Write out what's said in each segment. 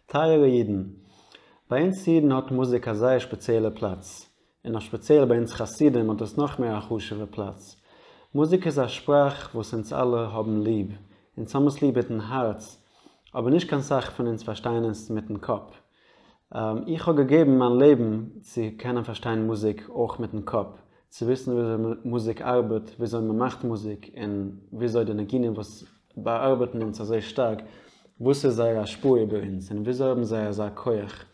טייערע אידן, ביי אונז אידן האט מוזיק א זייער שפעציעלע פלאץ, און אויף שפעציעל ביי אונז חסידים האט עס נאך מער א חשוב'ע פלאץ. מוזיק איז א שפראך וואס אונז אלע האבן ליב, אונז האבן עס ליב מיטן הארץ, אבער נישט קיין סאך פון אונז פארשטייען עס מיטן קאפ. איך האב געגעבן מיין לעבן צו קענען פארשטיין מוזיק אויך מיטן קאפ, צו וויסן וויאזוי מוזיק ארבעט, וויאזוי מען מאכט מוזיק, און וויאזוי די ניגונים וואס באארבעטן אונז אזוי שטארק, וואס איז זייער השפעה איבער אונז, און וויאזוי האבן זיי אזא כח.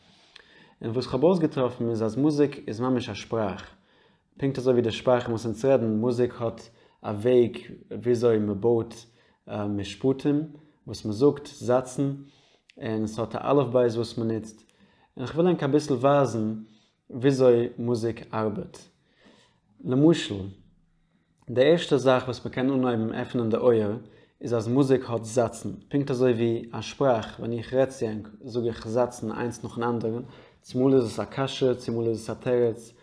און וואס כ'האב אויסגעטראפן איז אז מוזיק איז ממש א שפראך, פונקט אזוי ווי די שפראכן וואס אונז רעדן, מוזיק האט א וועג וויאזוי מען בויט משפטים, וואס מען זאגט, זאצן, און עס האט א אלף בית וואס מען נוצט, און איך וויל ענק אביסל ווייזן וויאזוי מוזיק ארבעט. למשל, די ערשטע זאך וואס מען קען אנהויבן עפענען די אויער איז אז מוזיק האט זאצן, פונקט אזוי ווי א שפראך, ווען איך רעד צו ענק זאג איך זאצן איינס נאכן אנדערן, צומאל איז עס א קשיא, צומאל איז עס א תירוץ,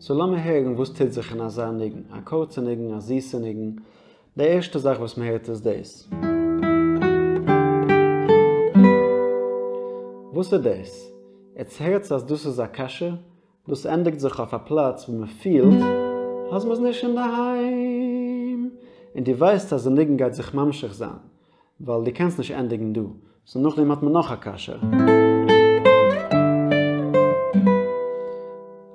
סאו לאמיר הערן וואס טוט זיך אין אזא ניגון, א קורצע ניגון, א זיסע ניגון, די ערשטע זאך וואס מ'הערט איז דאס. וואס איז דאס? עטס הערטס אז דאס איז א קשיא? דאס ענדיגט זיך אויף א פלאץ וואו מ'פילט אז מ'איז נישט אינדערהיים, און דו ווייסט אז די ניגון גייט זיך ממשיך זיין, ווייל דו קענסט נישט ענדיגן דא. סאו נאכדעם האט מען נאך א קשיא.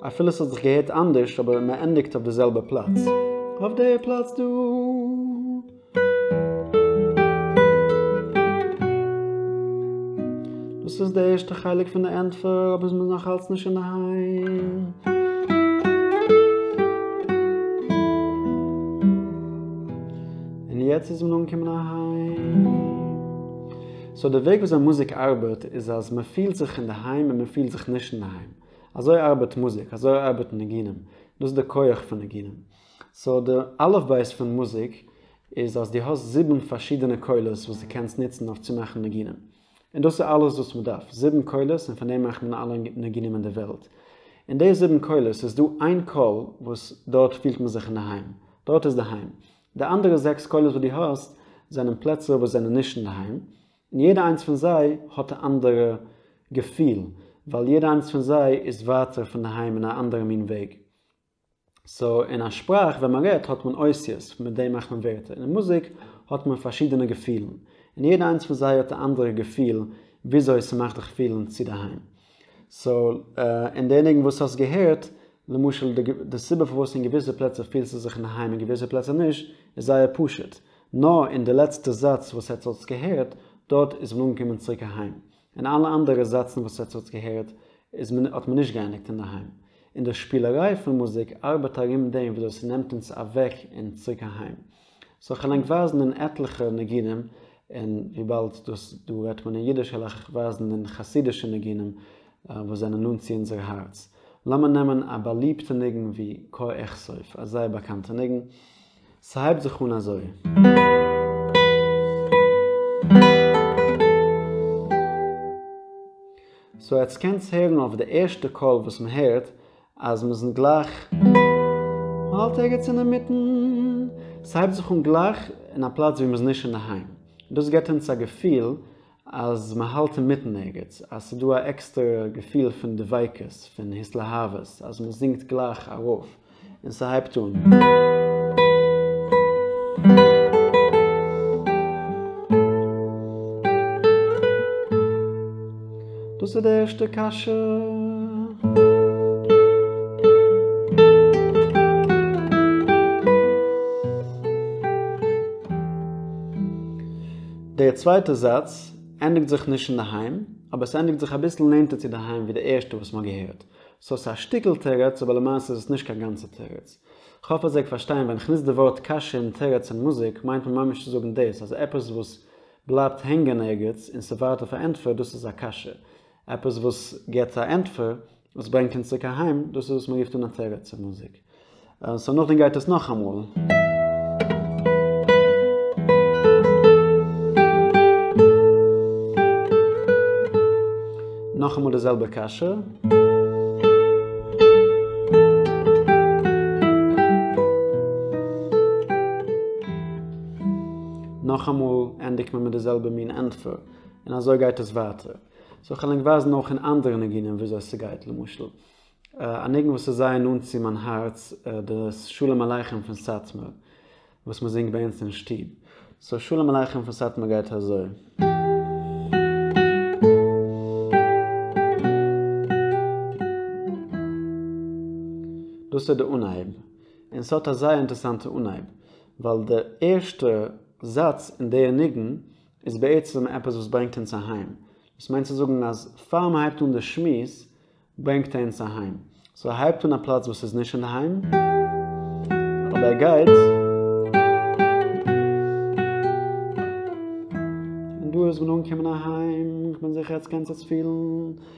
אפילו ס'האט זיך געהערט אנדערש אבער מען ענדיגט אויף די זעלבע פלאץ. אויף די פלאץ דא. דאס איז די ערשטע חלק פון די ענטפער אבער מ'איז נאך אלץ נישט אינדערהיים. און יעצט איז מען אנגעקומען אהיים. סאו די וועג וויאזוי מוזיק ארבעט איז אז מען פילט זיך אינדערהיים און מען פילט זיך נישט אינדערהיים. אזוי ארבעט מוזיק, אזוי ארבעטן ניגונים, דאס איז די כח פון ניגונים. סאו די אלף בית פון מוזיק איז אז דו האסט זיבן פארשידענע קולות וואס דו קענסט נוצן אויף צו מאכן ניגונים. און דאס איז אלעס וואס מען דארף, זיבן קולות און פון דעם מאכט מען אלע ניגונים אין די וועלט. אין די זיבן קולות איז דא איין קול וואס דארט פילט מען זיך אינדערהיים. דארט איז די היים. די אנדערע זעקס קולות וואס דו האסט זענען פלעצער וואס זענען נישט אינדערהיים, און יעדע איינס פון זיי האט א אנדערע געפיל, ווייל יעדע איינס פון זיי איז ווייטער פון די היים אין א אנדערע מין וועג. סאו אין א שפראך ווען מען רעדט האט מען אותיות, מיט דעם מאכט מען ווערטער, און אין מוזיק האט מען פארשידענע געפילן, און יעדע איינס פון זיי האט א אנדערע געפיל וויאזוי ס'מאכט דיך פילן צו דערהיים. סאו אין די ניגון וואס האסט געהערט, למשל די סיבה פארוואס אין געוויסע פלעצער פילסטו זיך אינדערהיים אין געוויסע פלעצער נישט, איז זייער פשוט, נאר אין די לעצטע זאץ וואס עטס האטס געהערט, דארט איז מען אנגעקומען צוריק אהיים. אין אלע אנדערע זאצן וואס עטס האטס געהערט, איז מען האט מען נישט געענדיגט אינדערהיים. און די שפילעריי פון מוזיק ארבעט ארום דעם ווי אזוי ס'נעמט אונז אוועק און צוריק אהיים. זאל איך ענק ווייזן אין עטליכע ניגונים, און וויבאלד דאס דא רעדט מען אין אידיש העל איך ווייזן אין חסידישע ניגונים וואס זענען נאנט צו אונזער הארץ. לאמיר נעמען א באליבטע ניגון ווי כה אכסוף, א זייער באקאנטע ניגון. ס'הייבט זיך אן אזוי. סאו עטס קענטס הערן אויף די ערשטע קול וואס מ'הערט אז מען זינגט גלייך, מען האלט ערגעץ אינמיטן, ס'הייבט זיך אן גלייך אין א פלאץ וואו מען איז נישט אינדערהיים, דאס געבט אונז א געפיל אז מען האלט אינמיטן ערגעץ, אז ס'איז דא א עקסטערע געפיל פון דביקות, פון התלהבות, אז מען זינגט גלייך ארויף און ס'הייבט אן. דאס איז די ערשטע קשיא. דער צווייטער זאץ ענדיגט זיך נישט אינדערהיים, אבער עס ענדיגט זיך אביסל נענטער צו דערהיים ווי די ערשטע וואס מען האט געהערט. סאו עס איז א שטיקל תירוץ אבער למעשה איז עס נישט קיין גאנצע תירוץ. כ'האף אז ער גייט פארשטיין ווען כ'נוץ די ווארט קשיא און תירוץ אין מוזיק מיינט מען ממש צו זאגן דאס אז עפעס וואס בלייבט הענגען ערגעץ און ס'ווארט אויף א ענטפער, דאס איז א קשיא. עפעס וואס גיבט א ענטפער וואס ברענגט אונז צוריק אהיים, דאס איז וואס מ'רופט אן א תירוץ צו מוזיק. סאו נאכדעם גייט עס נאכאמאל. נאכאמאל די זעלבע קשיא. נאכאמאל ענדיגט מען מיט די זעלבע מין ענטפער, און אזוי גייט עס ווייטער. סאו כ'וועל ענק ווייזן אויך אין אנדערע ניגונים וויאזוי ס'גייט, למשל א ניגון וואס איז זייער נאנט צו מיין הארץ, די שלום עליכם פון סאטמאר, וואס מען זינגט ביי אונז אין שטוב. סאו שלום עליכם פון סאטמאר גייט אזוי. דאס איז די אנהייב, און ס'האט א זייער אינטערסאנטע אנהייב. ווייל די ערשטע זאץ אין די ניגון איז בעצם עפעס וואס ברענגט אונז אהיים, דאס מיינט צו זאגן אז פאר מען הייבט אן די שמועס ברענגט ער אונז אהיים, סאו ער הייבט אן א פלאץ וואס איז נישט אינדערהיים אבער ער גייט און דא איז מען אנגעקומען אהיים, איך בין זיכער אז עטס קענטס עס פילן,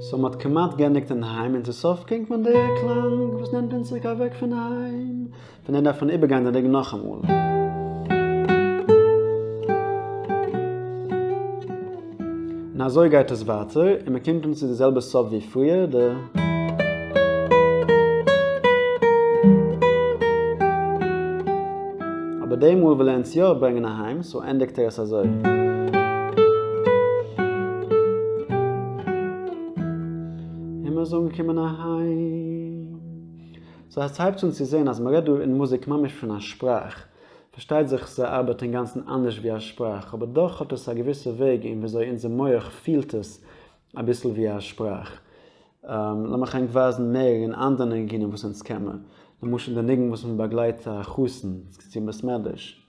סאו מ'האט כמעט גענדיגט אינדערהיים און צו סוף קלינגט מען די קלאנג וואס נעמט אונז צוריק אוועק פון היים, פון דעם דארף מען איבערגיין די ניגון נאכאמאל. און אזוי גייט עס ווייטער, און מען קומט אן צו די זעלבע סוף ווי פריער, די. אבער די מאל וויל ער אונז יא ברענגען אהיים, סאו ענדיגט ער עס אזוי. און מ'איז אנגעקומען אהיים. סאו עס הייבט זיך אן צו זען אז מ'רעדט דא אין מוזיק ממש פון א שפראך. פארשטייט זיך סע ארבעט אינגאנצן אנדערש ווי א שפראך, אבער דאך האט עס א געוויסע וועג אין וויאזוי אונזער מוח פילט עס אביסל ווי א שפראך. לאמיך ענק ווייזן מער אין אנדערע ניגונים וואס אונז קען מען. למשל די ניגון וואס מען באגלייט א חתן צום בית מדרש.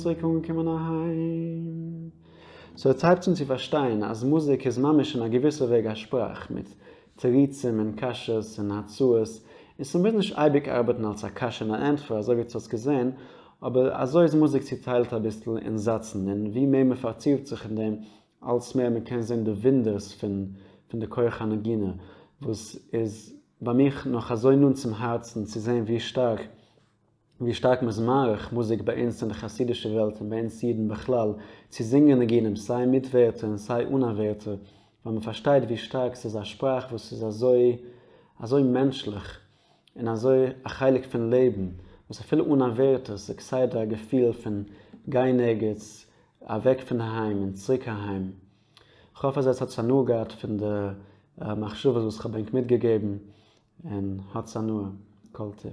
צוריק אנגעקומען אהיים. סאו עטס הייבטס אן צו פארשטיין אז מוזיק איז ממש אין א געוויסע וועג א שפראך, מיט תירוצים און קשיות און הצעות, און ס'מוז נישט אייביג ארבעטן אלס א קשיא און א ענטפער אזוי ווי עטס האטס געזען, אבער אזוי איז מוזיק צוטיילט אביסל אין זאצן, און ווי מער מ'פארטיפט זיך אין דעם, אלץ מער מ'קען זען די וואונדערס פון די כח הנגינה, וואס איז ביי מיך נאך אזוי נאנט צום הארצן, צו זען ווי שטארק ווי שטארק מ'איז מעריך מוזיק ביי אונז אין די חסידישע וועלט און ביי אונז אידן בכלל, צו זינגען ניגונים סיי מיט ווערטער און סיי אן א ווערטער, ווייל מ'פארשטייט ווי שטארק ס'איז א שפראך וואס איז אזוי אזוי מענטשליך, און אזוי א חלק פון לעבן וואס אפילו אן עבירתו ס'איז כסדר א געפיל פון גיין ערגעץ אוועק פון די היים און צוריק אהיים. כ'האף אז עטס האטס הנאה געהאט פון די מחשבות וואס כ'האב ענק מיטגעגעבן און האטס הנאה. כל טוב.